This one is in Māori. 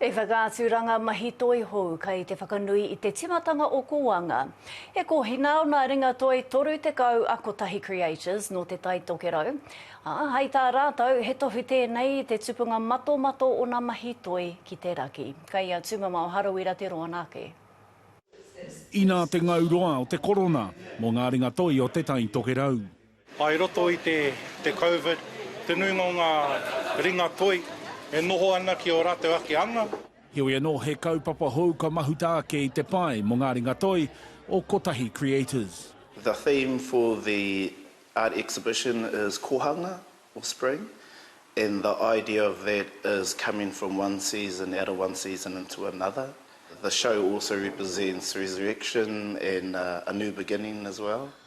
He whakaaturanga mahi toi hou kei te whakanui i te timatanga o Koanga. E kohi nā nā ringa toi 30 a Kotahi Creators nō Te Tai Tokerau, ā, hai tā rātou, he tohu tēnei i te tupunga matomato o nā mahi toi ki te raki. Kei a Tūmamao Harawira te roanga ake. Inā te ngau roa o te korona mō ngā ringa toi o Te Tai Tokerau. I roto i te Covid, te nuinga o ngā ringa toi e noho ana ki ō rātou ake anga. Heoi anō, he kaupapa hou ka mahuta ake i te pae mō ngā ringa toi o Kotahi Creators. The theme for the art exhibition is Kohanga or Spring and the idea of that is coming from one season out of one season into another. The show also represents resurrection and a new beginning as well.